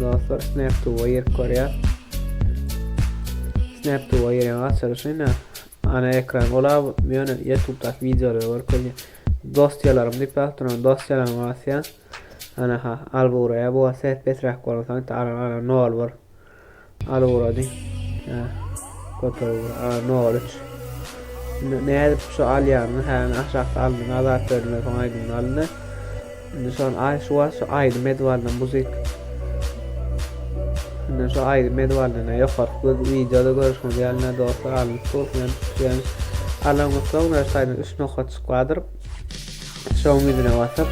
Dostlar Snap to Wire görýär. Snap to Wire açylyşy ne? Ana ekran ola ýöne YouTube-daky wideolary görkezýär. Dosýalarym diýip ýazdyran dosýalaryny basýar. Ana ha, al buraya bu ses pesräk bolan soň taran ara nol bor. Al ugrady. Hä. Köpe ugra. A, Noriç. Indi ne edip şu alýanyny, hä, aşakda alnyň azat berdiler, soň aýdymyny aldy. Indi şon ay şu wagt şu aýdym edip aldan muzyk. Indi şu aýdym edip aldan ýokarky göz wideoda görüşmez ýalyna dostlar alnyp dur, men tutýan. Alan soň näşe aýdym 3 nokat çyklardyr. Çawyň ýüzüne basyp,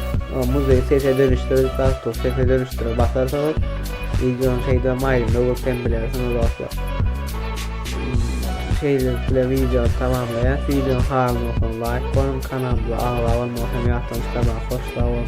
Muzeý sese dönüşdir Galtus sese dönüşdire basarsyňyz. Wideonyň şeýdibem aýdymda görkem bilersiňiz dostlar. Şeýlelik bilen wideony tamamlaýas. Wideonyň halyny bolsaň laýk goýuň, kanalymyza agza bolmagy hem ýatdan çykarmaň. Hoş sag boluň.